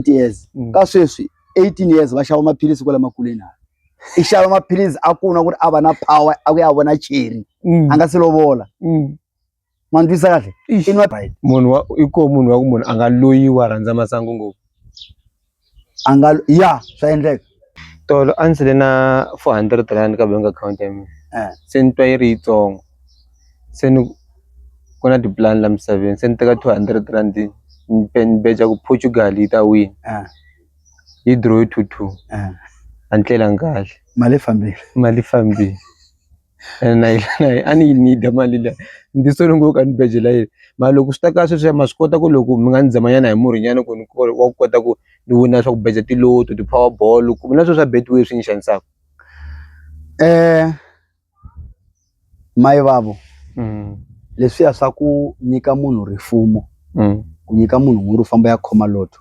20 years mm. ka sweswi 18 years va xava maphilisi kwale makuleni hala i xava maphilisi a ku na ku ri a va na power a ku ya vona cheri mm. a nga se lovola mm. ma ndwisa kahle munhu wa i ko munhu wa ku munhu a nga loyiwa rhandza masangu ngopfu a nga ya swa endleka tolo a ndzi ri na four hundred rand ka bank account ya mina se ni twa yi ri yitsongo se ni ku na tipulani la misaveni se ni teka two hundred rand ni beja ku Portugal yi ta wina yi dirowe two two a ni tlelanga kahle mali yi fambile mali yi fambile. na yi na yi a ni yi need mali liya ni ti sole ngopfu ka ni beje la yena mara loko swi ta ka sweswiya ma swi kota ku loko mi nga ni zama nyana hi murhi nyana ku ni wa ku kota ku ni wina swa ku beja ti-lotto ti-power ball ku na sweswiya betway swi ni xanisaka mayivavo leswiya swa ku nyika munhu rifumo ku nyika munhu mhuru famba ya khoma lotto.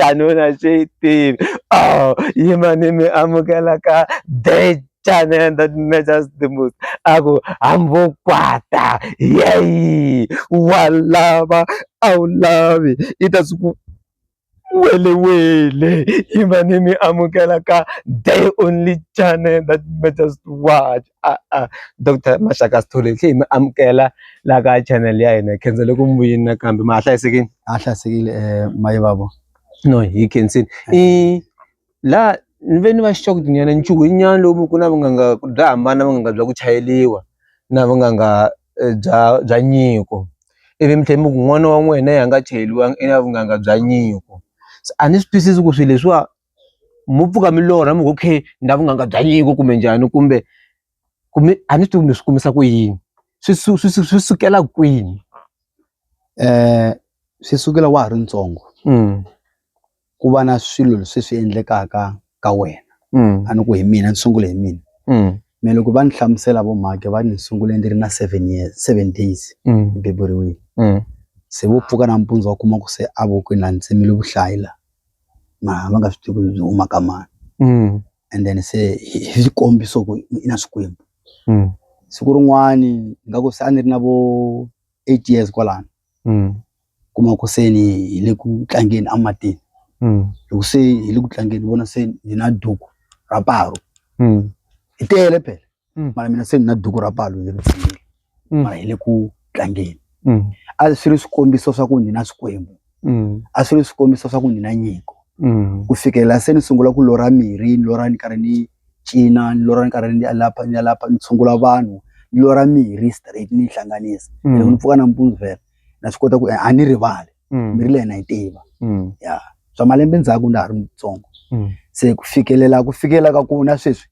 xanuna xi tivi oh yima ni mi amukela ka the channel that measures the most a ku hambokwata yeyi wa lava a wu lavi i ta swi ku welewele yima ni mi amukela ka the only channel that matters to watch doctor Maxaka Sithole hi tlhe hi mi amukela la ka channel ya hina hi khensele ku mi vuyini nakambe ma ha hlayisekile a hlayisekile um mayi vavo no hi khensile i la ni ve ni va xixoka tinyana nchuhwanyana lowu mi ku na vunganga bya hambana vunganga bya ku chayeliwa na vunganga bya bya nyiko ivi mi tlhe mi ku n'wana wa n'wina yi a nga chayeliwanga i na vunganga bya nyiko se a ni swi twisisi ku swi leswiwa mo pfuka mi lorha mi ngo okay ni na vunanga bya nyiko kumbe njhani kumbe ku mi a ni swi tivi mi swi kumisa ku yini swi swi swi swi sukela kwini swi sukela wa ha ri ntsongo ku va na swilo leswi swi endlekaka ka wena a ni ku hi mina ni sungule hi mina me loko va ni hlamusela vo mhakhe va ni sungule ni ri na seven years seven days ni beburiwile se vo pfuka nampundzu va kuma ku se a vokweni la ni tsemile vuhlayi la. ma ma nga swi tivi ku byi huma ka mani and then se hi hi xikombiso ku i na swikwembu siku rin'wani ingaku se a ni ri na vo eight years kwalano kuma ku se ni hi le ku tlangeni a matini loko se hi le ku tlangeni ni vona se ni na duku ra paru hi tele phela. Mm. mara mina se ni na duku ra palu leri tsiyile Mm. mara hi le ku tlangeni Mm. a swi ri swikombiso swa ku ni na swikwembu Mm. a swi ri swikombiso swa ku ni na nyiko Mm. ku fikelela se ni sungula ku lorha mirhi ni lorha ni karhi ni cina ni lorha ni karhi ni ya lapha ni ya lapha ni tshungula vanhu ni lorha mirhi straight ni yi hlanganisa Mm. loko ni pfuka nampundzu vhela na swi kota ku a ni rivali Mm. mirhi leyi na yi tiva Mm. ya swa malembe ndzhaku na ha ri mutsongo Mm. se ku fikelela ku fikelela ka ku na sweswi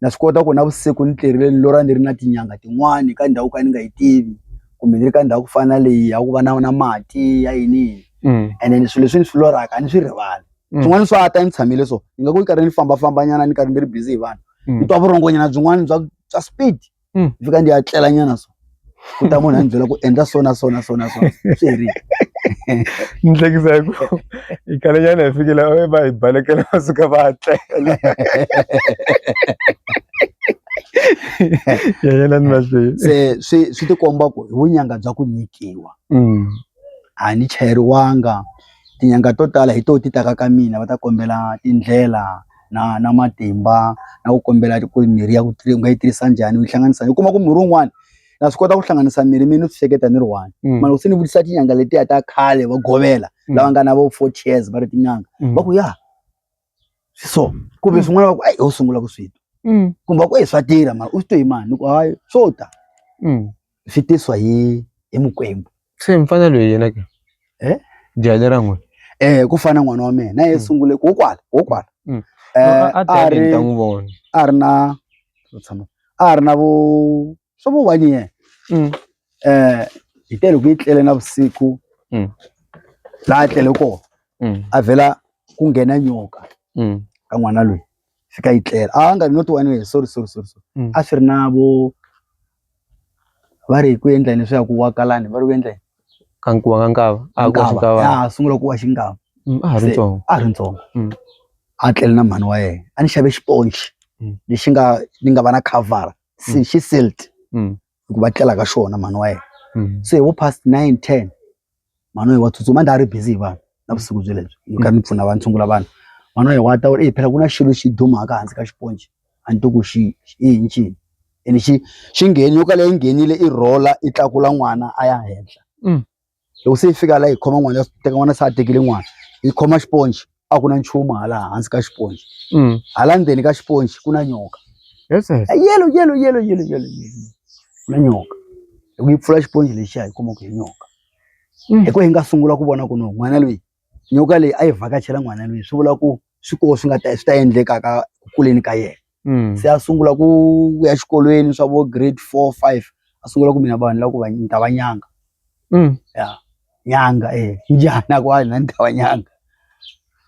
na swi kota ku navusiku ni tirhile ni lorha ni ri na tinyanga tin'wani ka ndhawu ka ni nga yi tivi kumbe ni ri ka ndhawu ku fana na leyi ya ku va na na mati ya yini mm. ene ni swilo leswi ni swi lorhaka a ni swi rivali mm. swin'wana swa ta ni tshamile so ni nga ku ni karhi ni fambafambanyana ni karhi ni ri busy hi vanhu mm. ni twa vurhongonyana byin'wana bya bya speed Mm. ni fika ndzi ya tlela nyana so ku ta munhu a ni byela ku endla so na so na so na so swi herile ni hlekisa hi ku hi khale nyana hi fikile e va hi balekela va suka va tlela ya yena ni mahlweni se swi swi tikomba ku hi vunyanga bya ku nyikiwa Mm. a ni chayeriwanga tinyanga to tala hi to ti taka ka mina va ta kombela tindlela na na matimba na ku kombela ku mirhi ya ku u nga yi tirhisa njhani u yi hlanganisa u kuma ku murhi wun'wani na swi kota ku hlanganisa mirhi mi ni swi hleketa ni ri one mm. mara se ni vutisa tinyanga letiya ta khale va govela mm. lava nga na vo four chairs va ri tinyanga mm. va ku ya swi so kumbe swin'wana va ku eyi u sungula ku swi twa kumbe va ku eyi swa tirha mara u swi to hi mani ni ku hayi swo ta swi tiswa hi hi mukwembu se mfana loyi yena ke eh jale ra n'we eh ku fana n'wana wa mina na ye mm. sungule ko kwala ko kwala mm. eh a ta ri ta n'wi vona a ri na tshama a ri na vo swo vo wani yena mm. eh hi tele ku itlele na vusiku la tlele ko a vela ku nghena nyoka ka n'wana loyi swi ka yi tlela a nga not one way sorry sorry sorry sorry Mm. a swi ri na vo va ri hi ku endla yini swi ya ku wa kalani va ri ku endla yini ka nkuwa ka nkava a ku Nkava. xikava Ya, a sungula ku wa xingava Mm, a ha ri Se- ntsongo a ri ntsongo Mm. a tlele na mhani wa yena a ni xave xiponci Mm. lexi nga ni nga va na khavhara Mm. xi silt Mm. hi ku va tlela ka xona mhani wa yena se vo past nine ten mhani wa ye wa tsutsuma a ndzi a ri busy hi vanhu navusiku bye lebyi ni kha ni pfuna vanhu ni tshungula vanhu mhani wa ye wa ta ku ri phela ku na xilo xi dumaka hansi ka xiponci a ni to ku xi i yini xini ene xi xi ngheni nyoka leyi nghenile i rhola i tlakula n'wana a ya henhla loko se yi fika la yi khoma n'wana ya teka n'wana se a tekile n'wana yi khoma xiponci a ku na nchumu hala hansi ka xiponci mm. hala ndzeni ka xiponci ku na nyoka yelo yelo yelo yelo yelo ku na nyoka loko yi pfula xiponci lexiya yi kuma ku hi nyoka mm. hi ku hi nga sungula ku vona ku no n'wana loyi nyoka leyi a yi vhakachela n'wana loyi swi vula ku swi koho swi nga ta swi ta endlekaka ku kuleni ka yena se a sungula ku ya xikolweni swa vo grade four five a sungula ku mina vanhu lava ni ta va nyanga ya nyanga e njhana ku a ni ta va nyanga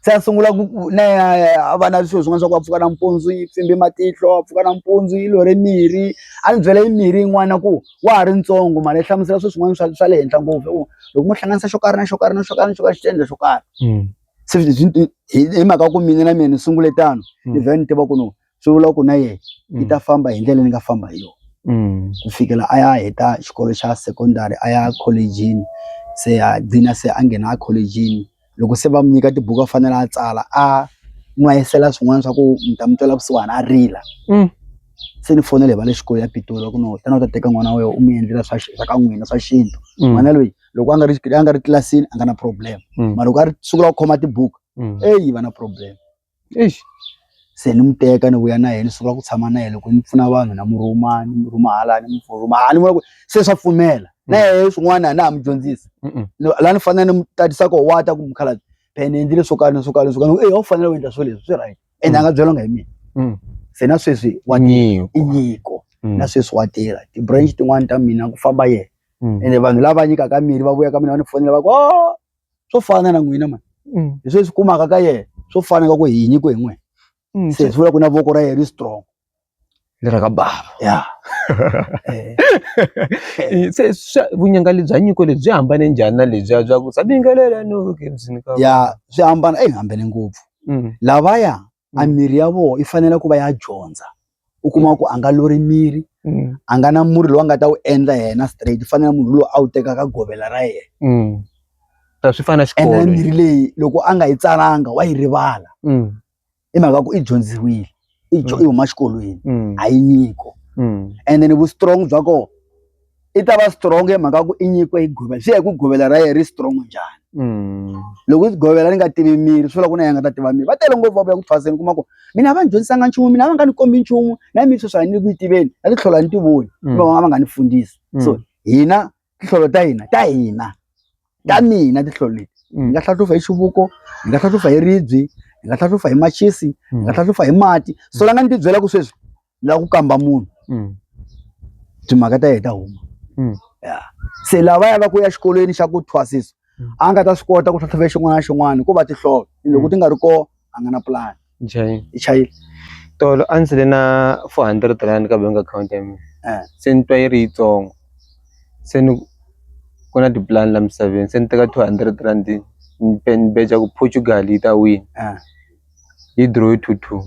se a sungula ku ku na ya a va na swilo swin'wana swa ku a pfuka nampundzu yi pfimbe matihlo a pfuka nampundzu yi lorhe mirhi a ni byela yi mirhi yin'wana ku wa ha ri ntsongo mhani yi hlamusela swilo swin'wana swa swa le henhla ngopfu hi ku loko mo hlanganisa xo karhi na xo karhi na xo karhi na xo karhi xi ta endla xo karhi. se hi mhaka ku mina na mina ni sungule tano mm. ni vhela ni tiva ku no swi vula ku na yena yi mm. ta famba hi ndlela ni nga famba hi yona mm. ku fikela a ya heta xikolo xa secondary a ya collejini se a gcina se a nghena a collejini loko se va mu nyika tibuku a fanele a tsala a n'wayisela swin'wana swa ku mi ta mi twela kusuhana a rila se ni fonele hi va le xikolo ya pitoli ku no tana u ta teka n'wana wa wena u mi endlela swa swa ka n'wina swa xintu n'wana loyi loko a nga ri a nga ri tlilasini a nga na problem mm. mara loko a ri sungula ku khoma tibuku mm. eyi va na problem eish se ni mu teka ni vuya na yena ni sungula ku tshama na yena loko ni pfuna vanhu na mu rhuma ni mu rhuma hala ni mu rhuma hala ni vona ku se swa pfumela mm. na yena swin'wana a na ha mu dyondzisa laha ni fanele ni mu tatisa ko wa ta ku mukhalabye phela ni endlile swo karhi ni swo karhi ni swo karhi eyi a wu fanele u endla swo leswi swi right ende a nga byelanga hi mina se na sweswi wa i nyiko na sweswi wa tirha ti-branch tin'wani ta mina ku famba yena mm. ende vanhu lava nyikaka mirhi va vuya ka mina va ni fonela va ku oh, swo fana na n'wina mani mm. hi sweswi kumaka ka yena swo fana ka ku hi nyiko hi n'wina mm, se hi vula ku na voko ra yena ri strong lera ka bava ya eh. eh, se vunyanga lebyi nyiko lebyi byi hambane njhani na lebyiya bya ku sa bingelela no ya swi hambana eyi hambene ngopfu lavaya Mm. a miri ya vona yi fanele ku va ya dyondza u kuma ku a nga lori miri Mm. a nga na murhi lowu a nga ta wu endla yena straight u fanele munhu lowu a wu tekaka govela ra yena Mm. Ta swi fana ende xikolo. mirhi leyi loko a nga yi tsalanga wa yi rivala Mm. i mhaka ku i dyondziwile i dyo- Mm. i huma xikolweni Mm. a yi nyiko Mm. ende ni vu strong bya kona i ta va strong hi mhaka ku i nyikiwe hi govela swi ya hi ku govela ra yena ri strong njhani mm. loko i govela ni nga tivi miri swi vula ku na ya nga ta tiva miri va tele ngopfu va vuya ku thwaseni kuma ku mina a va ni dyondzisanga nchumu mina a va nga ni kombi nchumu na miri sweswi a ni ku yi tiveni na titlholo a ni ti voni mm. va va nga ni fundisi mm. so hina titlholo ta hina ta hina ta mina titlholo leti hi nga hlahlufa hi xivuko hi nga hlahlufa hi ribyi hi nga hlahlufa hi machisi hi nga hlahlufa hi mati so la nga ni ti byela ku sweswi ni lava ku kamba munhu mm. timhaka ta yena ta huma mm. yeah. se lava ya va ku ya xikolweni xa ku thwasisa mm. a nga ta swi kota ku tlhatlhove xin'wana na xin'wana ko va tihlolo mm. loko ti nga ri kona a nga na pulani i chayile tolo a ndzi le na four hundred rand ka bank account ya mina eh. se ni twa yi ri yitsongo se ni ku na tipulani la misaveni se ni teka two hundred rand ni beja ku portugal yi ta wina eh. yi dirowe two two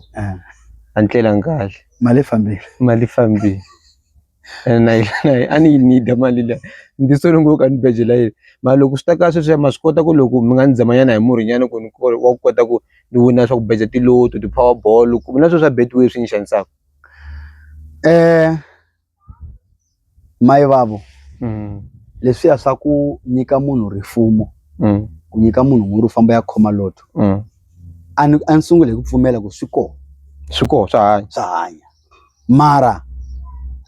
a ni tlelanga kahle mali yi fambile mali yi fambile ene na yi na yi a ni yi need-a mali liya ni ti sole ngopfu ka ni beje la yena mara loko swi ta ka sweswiya ma swi kota ku loko mi nga ni zamanyana hi murhi nyana ku ni wa ku kota ku ni wina swa ku beja ti-lotto ti-power ball ku na swo swa betway swi ni xanisaka . mai vavo mm. leswiya swa ku nyika munhu rifumo mm. ku nyika munhu n'wuri u famba ya khoma loto mm. a ni a ni sungule hi ku pfumela ku swi kona swi kona swa hanya swa hanya mara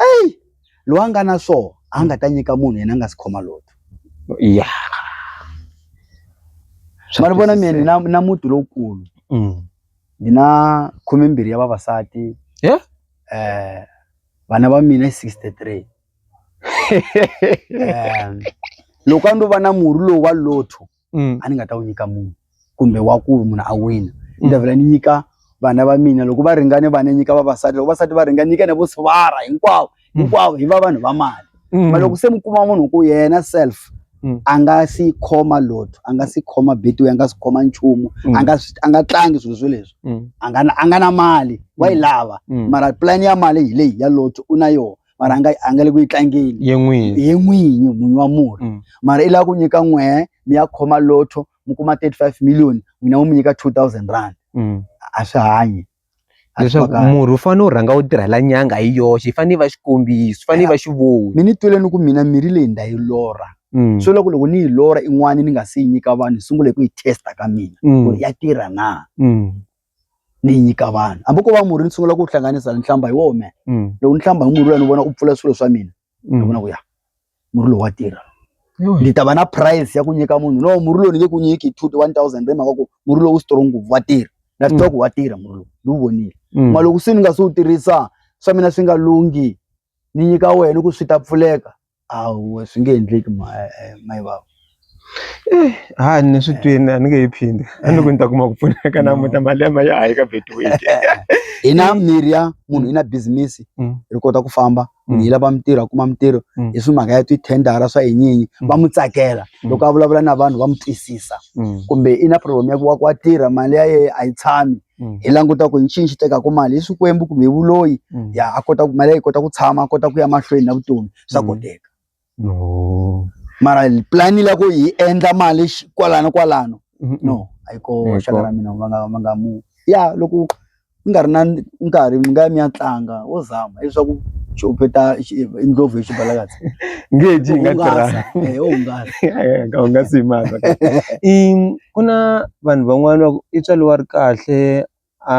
eyi loyi a nga na swona a nga ta nyika munhu yena a nga si khoma loto ya ma ri vona mina na, na muti lowukulu mm. ni na khume mbirhi ya vavasati yeah? eh vana va mina i 63 um loko a ndo va na murhi lowu wa lotho mm. a ni nga ta wu nyika munhu kumbe wa ku munhu a wina ni ta mm. vhela ni nyika vana va mina loko va ringane vana nyika vavasati loko vasati va ringane nyika na vo swivara hinkwavo mm. hinkwavo hi va vanhu va mali mm. ma loko se mi kuma munhu ku yena self mm. a nga si khoma lotho a nga si khoma betiwe a nga si khoma nchumu mm. a nga a nga tlangi swilo swo leswi mm. a nga a nga na mali wa yi mm. lava mm. mara plan ya mali hi leyi ya lotho u na yona mara a nga a nga le ku yi tlangeni ye n'winyi ye n'winyi munhu wa murhi mm. mara i lava ku nyika n'wehe mi ya khoma lotho mi kuma 35 million n'wina mu mi nyika 2000 rand mm. a swi hanyi leswaku murhi wu fanele wu rhanga wu tirhela nyanga hi yoxe yi fanele yi va xikombiso yi fanele yi va xivono mi ni tweleni ku mina mirhi leyi nda yi lorha mm. so loko loko ni yi lorha in'wana ni nga se yi nyika vanhu hi sungule hi ku yi testa ka mina mm. ku ya tirha na mm. ni yi nyika vanhu hambi ko va murhi ni sungula ku wu hlanganisa ni hlamba hi wona loko ni hlamba hi murhi loya ni vona u pfula swilo swa mina ni vona ku ya murhi lowu wa tirha ndzi ta va na price ya ku nyika munhu no murhi lowu ni nge ku nyiki two one thousand hi mhaka ku murhi lowu strong ngopfu wa tirha na swi tiva ku wa tirha murhi lowu ni wu vonile mm. ma loko se ni nga se wu tirhisa swa mina swi nga lunghi ni nyika wena ku swi ta pfuleka awu swi nge endleki eh, eh, mayi vava a ni swi twini a ni nge yi phindi a ni ku ni ta kuma ku pfuneka namuta mali ya ma ya hayi ka betway hi na mirhi ya munhu yi na business mm. ri kota ku famba munhu mm. yi lava mintirho a kuma mintirho mm. hi swi mhaka ya tithendara swa yinyinyi va mu tsakela loko a vulavula na vanhu va mu twisisa kumbe i na problem ya ku wa ku wa tirha mali ya yena a yi tshami Mm. hi languta ku nxini xi tekaka mali hi swikwembu kumbe hi vuloyi mm. ya a kota ku mali ya yi kota ku tshama a kota ku ya mahlweni na vutomi swa mm. koteka no mara plan la ku hi endla mali xi- kwalano kwalano no a yi koho Hikuva- xaka ra mina va nga va nga mu ya loko mi nga ri na nkarhi mi nga ya mi ya tlanga wo zama leswaku xopeta indlovu hi xibalakatsi ngeji yi nga tirhanga eh hungasa ka u nga si maka i ku na vanhu van'wana va ku i tswaliwa ri kahle a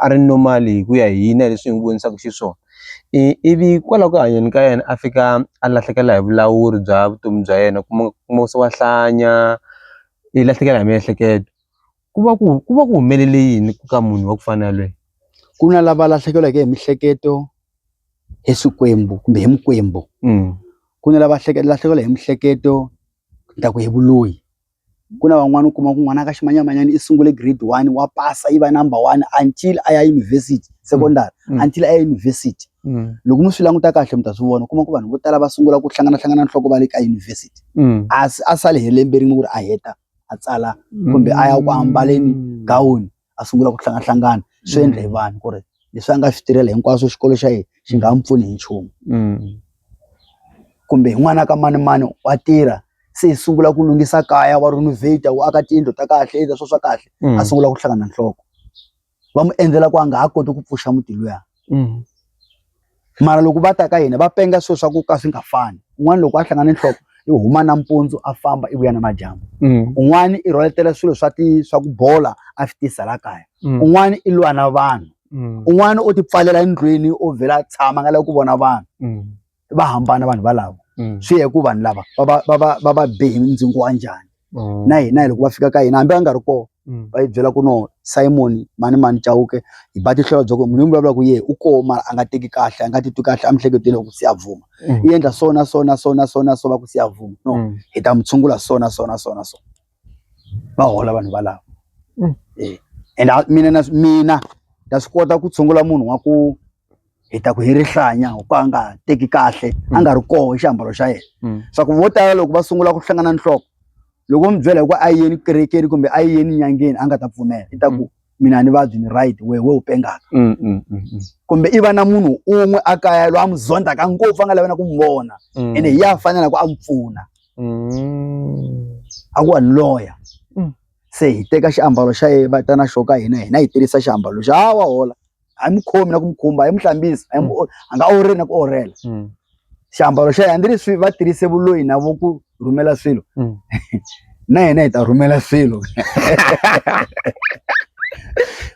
a ri normal hi ku ya hi hina hi leswi hi n'wi vonisaku xiswona ivi kwalaho ku hanyeni ka yena a fika a lahlekela hi vulawuri bya vutomi bya yena u kuma kuma se wa hlanya i lahlekela hi miehleketo ku va ku ku va ku humelele yini ku ka munhu wa ku fana na yalweye ku na lava lahlekeriweke hi mihleketo hi swikwembu kumbe hi mikwembu ku na lava lahlekeriwile hi mihleketo ni ta ku hi vuloyi. ku na van'wani u kuma ku n'wana ka ximanyamanyani i sungule grade one wa pasa yi va number one until a ya university secondary mm. mm. until a ya university mm. loko mi swi languta kahle mi ta swi vona u kuma ku vanhu vo tala va sungula ku hlangana hlangana nhloko va le ka university mm. a a sale hi lembe rin'we ku ri a heta a tsala kumbe a ya ku ambaleni mm. gawuni a sungula ku hlangahlangana swi endle hi vanhu ku ri leswi a nga swi tirhela hinkwaswo xikolo xa yena xi nga n'wi pfuni hi nchumu kumbe hi n'wana ka manimani wa tirha se hi sungula ku lunghisa kaya wa renovate wa aka tiyindlu ta kahle endla swo swa kahle a sungula ku hlangana nhloko va mu endzela ku a nga ha koti ku pfuxa muti luya. mm. mara loko va ta ka hina va penga swilo swa ku ka swi nga fani un'wana loko a hlangana nhloko i huma nampundzu a famba i vuya na madyambu mm. un'wana i rhwaletela swilo swa ti swa ku bola a swi tisa la kaya mm. un'wana i lwa na vanhu mm. un'wana u ti pfalela endlwini u vhela a tshama nga lavi ku vona vanhu mm. va hambana vanhu valavo mm. swi ya hi ku vanhu lava va va be hi ndzingo wa njhani mm. na hina hi loko va fika ka hina hambi va nga ri kona mm. va yi byela ku no simon mani mani chawuke hi ba tihlolo bya ku munhu yi vulavula ku yehe u koo mara a nga teki kahle a nga titwi kahle a mihleketweni loko se ya vuma i endla so na so na so na so na so va ku se ya vuma no hi ta mu tshungula so na so na so na so va hola vanhu valavo mm. eh, and mina na mina ta swi kota ku tshungula munhu wa ku hi ta ku hi rihlanya ku a nga teki kahle a nga ri mm. koho xiambalo xa yena mm. swa ku vo tala loko va sungula ku hlangana nhloko loko mi byela hi ku a yeni kerekeni kumbe a yeni nyangeni a nga ta pfumela i ta ku mm. mina ni vabyi ni right wehe we u pengaka mm, mm, mm, mm. kumbe i va na munhu un'we a kaya loyi a n'wi zondzaka ngopfu a nga lavena ku n'wi vona mm. ene hi ya fanela ku a n'wi pfuna mm. a ku wa loya mm. se hi teka xiambalo xa ye va ta na xo ka hina hina hi tirhisa xiambalo xa wa hola a yi mu khomi na ku mu khumba a yi mu hlambisi a yi mu a nga orheli na ku orhela Mm. xiambalo xa yena hambileswi va tirhise vuloyi na vo ku rhumela swilo Mm. na yena hi ta rhumela swilo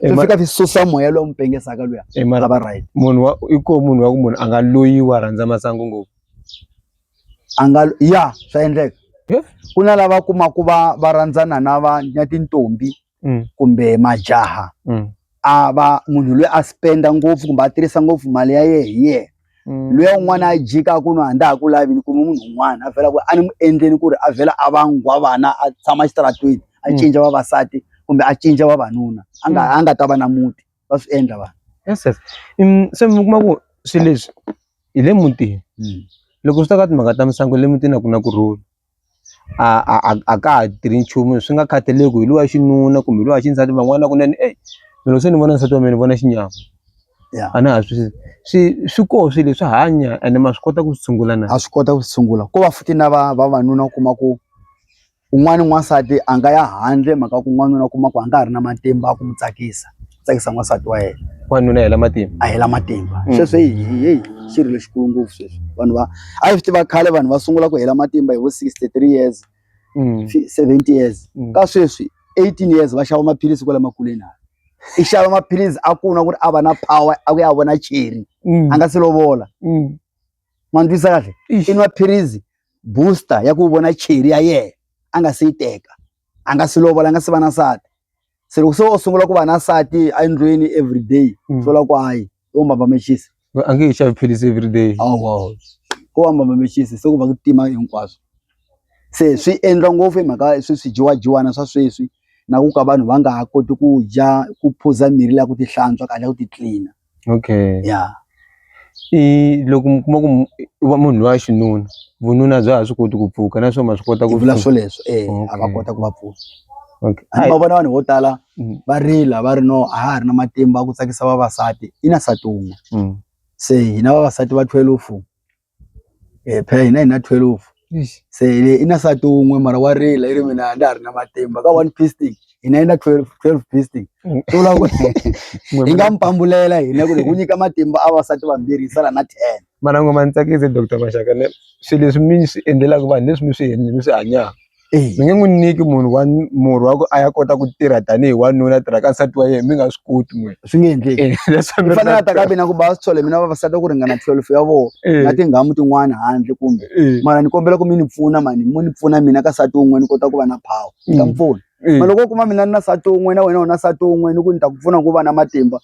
Eh, swi ma- fika swi susa moya lowu mu pengesaka luya eh, a mara va right munhu wa i ko munhu wa ku munhu a nga loyiwa a rhandza masangu ngopfu a nga ya swa endleka Yeah. ku na lava kumaku va va rhandzana na va na tintombi mm. kumbe majaha mm. a va munhu loyi a spenda ngopfu kumbe a tirhisa ngopfu mali ya yena hi yena mm. loyi un'wana a jika ku no a ndza ha ku lavini kumbe munhu un'wana a vhela ku a ni mu endleni ku ri a vhela a va nghwa vana a tshama exitaratweni a mm. cinca vavasati kumbe a cinca vavanuna a nga mm. a nga ta va na muti va swi endla vanhu yes yes um, se mi kuma ku swilo leswi hi le mutini mm. loko swi ta ka timhaka ta misangu le mutini a ku na ku rhula a a a a ka ha tirhi nchumu swi nga khathaleki hi loyi wa xinuna kumbe hi loyi wa xisati van'wana kunene eyi loko se ni vona nsati wa mina ni vona xinyama ya a na ha swi swi swi koho swi leswi hanya ene ma swi kota ku swi tshungula na a swi kota ku sungula ko va futhi na va vavanuna u kuma ku un'wana n'wansati a nga ya handle mhaka ku n'wanuna u kuma ku a nga ha ri na matimba a ku mu tsakisa. tsakisa n'wansati wa yena wanuna hela matimba a hela matimba mm. sweswi hi heyi xi ri lexikulu ngopfu sweswi vanhu va a swi tiva khale vanhu va sungula ku hela matimba hi vo sixty three years mm. seventy years mm. ka sweswi eighteen years va xava maphilisi kwala makuleni hala i xava maphilisi a ku na ku ri a va na power a ku ya vona cheri mm. a nga se lovola mm. ma ni twisa kahle i nwa philisi booster ya ku vona cheri ya yena a nga se yi teka a nga se lovola a nga se va na nsati se loko se o sungula ku va na nsati endlwini everyday mm. swi vula ku hayi u mbamba mexisi a nge he xavi philisi everyday awa ku va mbamba mexisi se ku va ku tima hinkwaswo se swi endla ngopfu hi mhaka swi swi dyiwadyiwana swa sweswi na ku ka vanhu va nga ha koti ku dya ku phuza mirhi leya ku tihlantswa kahle ya ku titlina okay ya i loko mi kuma ku u va munhu loyi wa xinuna vununa bya ha swi koti ku pfuka na swo ma swi kota ku vula swoleswo e a va kota ku va pfuna a va vona vanhu vo tala mm. va rila va ri no a ha ri na matimba ku tsakisa vavasati i na sati wun'we mm. se hina vavasati va twelve phela hina hi na twelve se i na nsati wun'we mara wa rila i ri mina a ndza ha ri na matimba ka one piece stick hina yi na twelve twelve piece stick swi vula ku hi nga mi pambulela hina ku ri ku nyika matimba a vasati vambirhi yi sala na ten mana ngo ma ni tsakise doctor Mashaka ne swi leswi mi swi endlelaku vanhu leswi mi swi mi swi hanyaka. mi nge n'wi nyiki munhu wa murhi wa ku a ya kota ku tirha tanihi wanuna a tirha ka nsati wa yena mi nga swi koti n'wina swi nge endleki leswi fanele a ta ka mina ku ba swi tshola mina vavasati ku ringana twelve ya vona na tinghamu tin'wana handle kumbe mara ni kombela ku mi ni pfuna mani mo ni pfuna mina ka nsati wun'we ni kota ku va na power ni ta mi pfuna ma loko u kuma mina ni na nsati wun'we na wena u na nsati wun'we ni ku ni ta ku pfuna ku va na matimba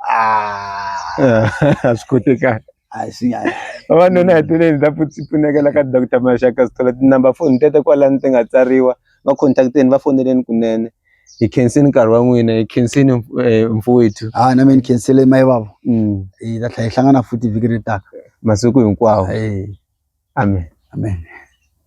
a swi kotekani a hi swi nyanya vavanuna hi tile ndza pfunekela ka doctor maxaka sithola tinumber phone tete kwalani ti nga tsariwa va contacteni va foneleni kunene hi khensini nkarhi wa n'wina hi khensini eh, mfowethu ha ah, na mina ni khensele mayi vavo mm. hi ta tlhela hi hlangana futhi vhiki ri taka masiku hinkwawo amen amen